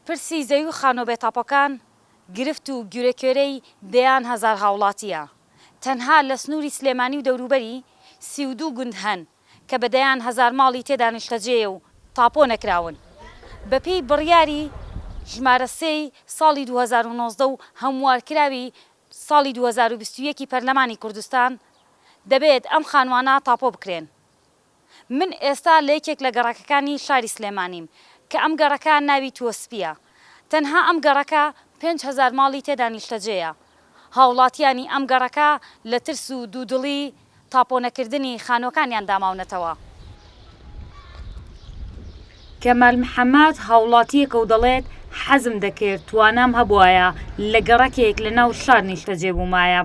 پرسی زەوی و خانوە بێتاپۆکان گرفت و گورێکوێرەی دەیان هەزار هاوڵاتییە، تەنها لە سنوری سلێمانی و دەوروبەری سی و دوو گوند هەن کە بە دەیان هەزار ماڵی تێدا نیشتەجێیە و تاپۆ نەکراون بەپێی بڕیاری ژمارە سێ ی ساڵی دوو هەزار و نۆزدە و هەموارکراوی ساڵی دوو هەزار و بیست و یەک ی پەرلەمانی کوردستان دەبێت ئەم خانوانە تاپۆ بکرێن. من ئێستا لە یەکێک لە گەڕەکەکانی شاری سلێمانیم کە ئەم گەڕەکە ناوی تووەسپییە. تەنها ئەم گەڕەکە پێنج هەزار ماڵی تێدا نیشتەجێیە. هاوڵاتییانی ئەم گەڕەکە لە ترس و دوودڵی تاپۆنەکردنی خانووەکانیان داماونەتەوە. کەمال محەمەد هاوڵاتییەکە و دەڵێت، حەزم دەکرد توانام هەبوایە لە گەڕەکێک لە ناو شار نیشتەجێ بوومایە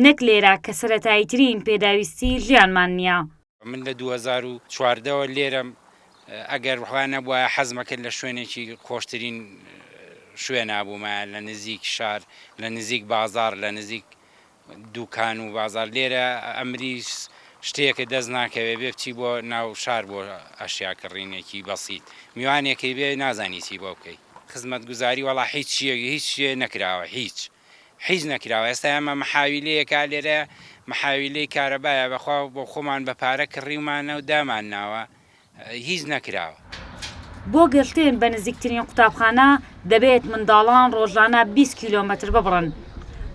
نەک لێرە کە سەرەتاییترین پێداویستیی ژیانمان نییە. من لە دوو هەزار و چواردە وە لێرەم ئەگەر وا نەبوایە حەزم ئەکرد لە شوێنێکی خۆشترین شوێنا بوومایە لە نزیک شار لە نزیک بازاڕ لە نزیک دووکان و بازار لێرە ئەمری شتێکە دەست ناکەوێ بێ بچی بۆ ناو شار بۆ ئەشیا کڕینێکی بەسیت میوانێکی بێ نازانی چی بۆ بکەی خزمەتگوزاری وەڵا هیچ شتێک هیچ شتێ نەکراوە هیچ حیز نەکراوە ئێستا ئێمە محاویلەیەکە لێرە محاویلەی کارەبایە بەخوا بۆخۆمان بە پارە کڕیومانە و دامان ناوە هیچ نەکراوە. بۆ گەشتن بە نزیکترین قوتابخانە دەبێت منداڵان ڕۆژانە بیست کیلۆمەتر ببڕن،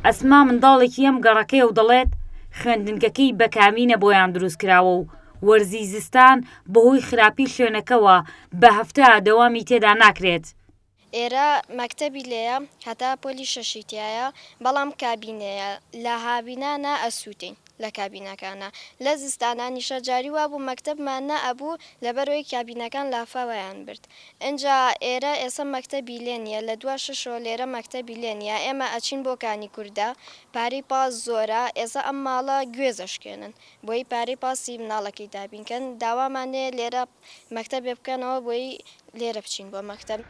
ئەسما منداڵێکی ئەم گەڕەکەیە و دەڵێت، خوێندنگەکەی بە کابینە بۆیان دروستکراوە و وەرزی زستان بەهۆی خراپی شوێنەکەوە بە هەفتە دەوامی تێدا ناکرێت. ئێرە مەکتەبی لێیە هەتا پۆلی شەشی تیایە بەڵام کابینەیە لە هاوینا نا ئەسوتێین لە کابینەکانا لە زستانانیشە جاری وابوو مەکتەبمان نا ئەبوو لەبەرەوەی کابینەکان لافاوەیان برد ئنجا ئێرە ئێسە مەکتەبی لێ نیە لە دوا شەشەوە لێرە مەکتەبی لێ نیە ئێمە ئەچین بۆ کانی کوردە پارەی پاس زۆرە ئێسە ئەم ماڵە گوێز ئەشکێنن بۆی پارەی پاسی مناڵەکەی دابین کەن داوامان لێ لێرە مەکتەب بێ بکەنەوە بۆیی لێرە بچین بۆ مەکتەب.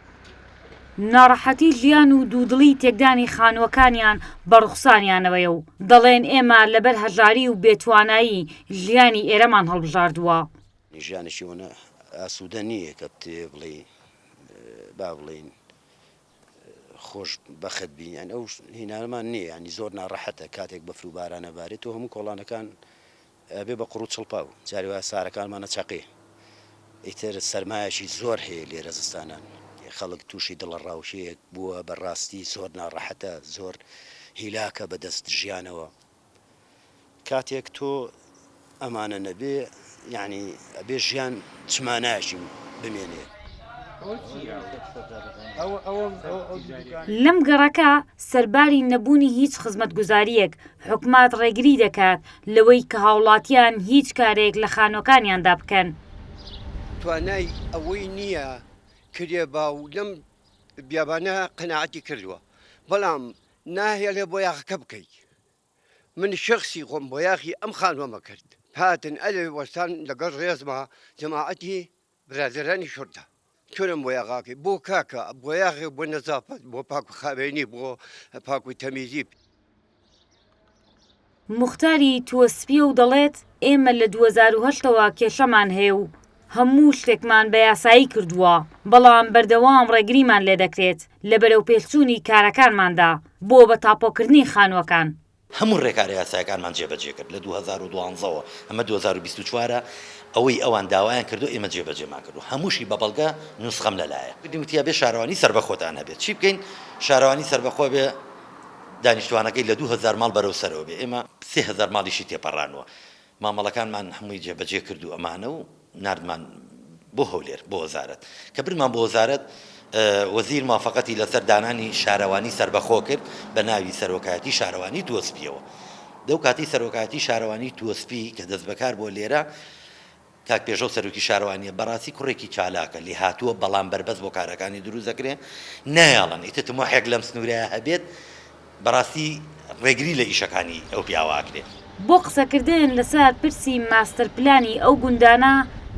ناڕەحەتی ژیان و دوودڵی تێکدانی خانووەکانیان بە ڕوخساریانەوەیە و دەڵێن ئێمە لەبەر هەژاری و بێ توانایی ژیانی ئێرەمان هەڵبژاردووە. ژیانێکی وەنە ئاسوودە نییە کە پێ بڵێی با بڵێین خۆش بەخت بی یان ئەو هینانەمان نییە یانی زۆر ناڕەحەتە کاتێک بەفر و باران ئەبارێ تۆ هەموو کۆڵانەکان ئەبێ بە قوڕو چڵپاو جاری وایە سارەکانمان ئەچەقێ ئیتر سەرمایەکی زۆر هەیە لێرە زستانان خەڵک توشی دڵەڕاوکێیەک بووە بە ڕاستی زۆر ناڕەحەتە زۆر هیلاکە بە دەست ژیانەوە کاتێک تۆ ئەمانە نەبێ یانی ئەبێ ژیان چ مانایەکی بمێنێ. لەم گەڕەکە سەرباری نەبوونی هیچ خزمەتگوزارییەک حوکمات ڕێگری دەکات لەوەی کە هاوڵاتیان هیچ کارێک لە خانوەکانیاندا بکەن. توانای ئەوەی نییە کرێ با و لەم بیابانە قەناعەتی کردووە بەڵام ناهێڵێ بۆیاخەکە بکەیت من شەخسی خۆم بۆیاخی ئەم خانوەمە کرد هاتن ئەلێ وەستان لەگەڵ ڕێزما جەماعەتی برادەرانی شورتە تورم بۆ یاغاکەی بۆ کاکە بۆ یاغێ بۆ نەزافەت بۆ پاک و خاوێنی بۆ پاک و تەمیزی. موختاری تووە سپییە و دەڵێت، ئێمە لە دوو هەزار و هەشت ەوە کێشەمان هەیە و هەموو شتێکمان بە یاسایی کردووە، بەڵام بەردەوام ڕێگریمان لێدەکرێت لە بەرەوپێشچوونی کارەکانماندا بۆ بە تاپۆکردنی خانووەکان. هەموو ڕێکارە یاسایەکانمان جێبەجێ کرد لە دوو هەزار و دوازدە وە، ئەمە دوو هەزار و بیست و چوار ە، ئەوەی ئەوان داوایان کردووە ئێمە جێبەجێمان کردووە، هەمووشی بە بەڵگە، نوسخەم لەلایە. کردین وتی ئەبێ شارەوانی سەربەخۆتان هەبێت، چی بکەین شارەوانی سەربەخۆ بێ دانیشتوانەکەی لە دوو هەزار ماڵ بەرەو سەرەوە بێ، ئێمە سێ هەزار ماڵیشی تێپەڕانووە، مامەڵەکانمان هەمووی جێبەجێ کرد و ئەمانە و ناردمان بۆ هەولێر بۆ وەزارەت. کە بردمان بۆ وەزارەت، وەزیر موافەقەتی لەسەر دانانی شارەوانی سەربەخۆ کرد بە ناوی سەرۆکایەتی شارەوانی تووەسپییەوە. لەو کاتەی سەرۆکایەتی شارەوانی تووەسپی کە دەستبەکار بووە لێرە، کاک پێشەو سەرۆکی شارەوانییە، بەڕاستی کوڕێکی چالاکە، لێهاتووە، بەڵام بەربەست بۆ کارەکانی دروست دەکرێ، نایەڵن ئیتر تموحێک لەم سنوورەیا هەبێت، بەڕاستی ڕێگری لە ئیشەکانی ئەو پیاوە ئەکرێ. بۆ قسەکردن لەسەر پرسی ماستەر پلانی ئەو گوندانە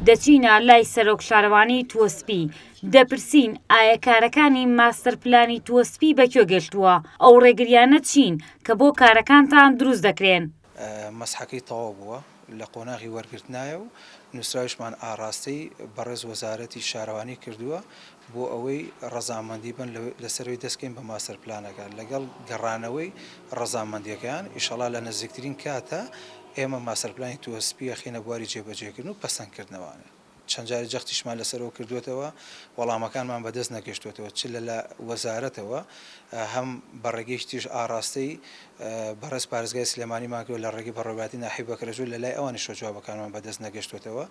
دەچینە لای سەرۆک شارەوانی تووەسپی دەپرسین ئایە کارەکانی ماستەر پلانی تووەسپی بەکوێ گەشتووە؟ ئەو ڕێگریانە چین کە بۆ کارەکانتان دروست دەکرێن؟ مەسحەکەی تەواو بووە لە قۆناغی وەرگرتنایە و نووسراویشمان ئاڕاستەی بەڕێز وەزارەتی شارەوانی کردووە بۆ ئەوەی ڕەزامەندی بن لەسەروی دەستکەین بە ماستەر پلانەکە لەگەڵ گەڕانەوەی ڕەزامەندیەکەیان ئیشەڵا لە نزیکترین کاتا ئێمە ماستەر پلانی تووەسپیەخینە بواری جێبەجێکردن و پەسەندکردنەوە. چەند جارێک جەختیشمان لەسەرەوە کردووەتەوە، وەڵامەکانمان بەدەست نەگەشتووەتەوە، چ لە لە وەزارەتەوە، هەم بە ڕێگەی شتیش ئاڕاستەی بەڕێز پارێزگای سلێمانیمان کردووە، لە ڕێگەی بەڕێوەبەرایەتی ناحیە بەکرەجۆ لە لای ئەوانیشەوە جوابەکانمان بەدەست نەگەشتووەتەوە،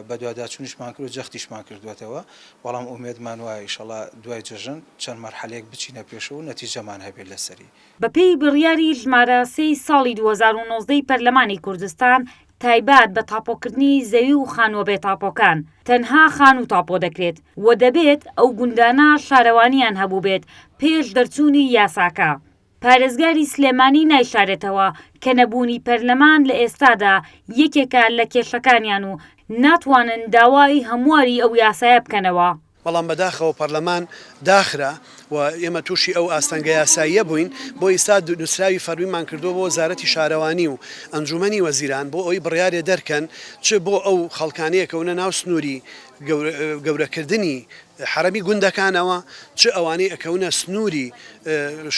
بەدواداچوونیشمان کردووە، جەختیشمان کردووەتەوە، بەڵام ئومێدمان وایە ئیشەڵا دوای جەژن چەند مەرحەلەیەک بچینە پێشەوە و نەتیجەمان هەبێت لەسەری. بەپێی بڕیاری ژمارە سێی ساڵی دوو هەزار و نۆزدە ی پەرلەمانی کوردستان، تایبەت بە تاپۆکردنی زەوی و خانووە بێ تاپۆکان، تەنها خانوو تاپۆ دەکرێت و دەبێت ئەو گوندانە شارەوانییان هەبووبێت پێش دەرچوونی یاساکە. پارێزگاری سلێمانی نایشارێتەوە کە نەبوونی پەرلەمان لە ئێستادا یەکێکە لە کێشەکانیان و ناتوانن داوای هەمواری ئەو یاسایە بکەنەوە. بەڵام بەداخەوە پەرلەمان داخرا و ئێمە تووشی ئەو ئاستەنگە یاساییە بووین، بۆ ئیستا نووسراوی فەرمیمان کردووە بۆ وەزارەتی شارەوانی و ئەنجوومەنی وەزیران بۆ ئەوەی بڕیارێ دەرکەن چ بۆ ئەو خەڵکانەیە کەونە ناو سنووری گەورەکردنی حەرەمی گوندەکانەوە چ ئەوانەی ئەکەونە سنووری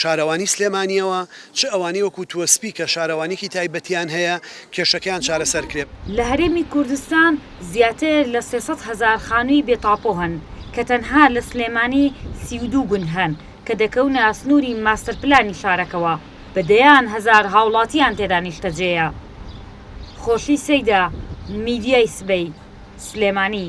شارەوانی سلێمانییەوە، چ ئەوانەی وەکو تووەسپی کە شارەوانییەکی تایبەتیان هەیە، کێشەکەیان چارەسەر کرێ. لە هەرێمی کوردستان زیاتر لە سێ سەد هەزار خانووی بێ تاپۆ هەن، کە تەنها لە سلێمانی سی و دوو گوند هەن کە دەکەونە سنووری ماستەرپلانی شارەکەوە، بە دەیان هەزار هاوڵاتییان تێدا نیشتەجێیە. خۆشی سەیدا، میدیای سبەی، سلێمانی.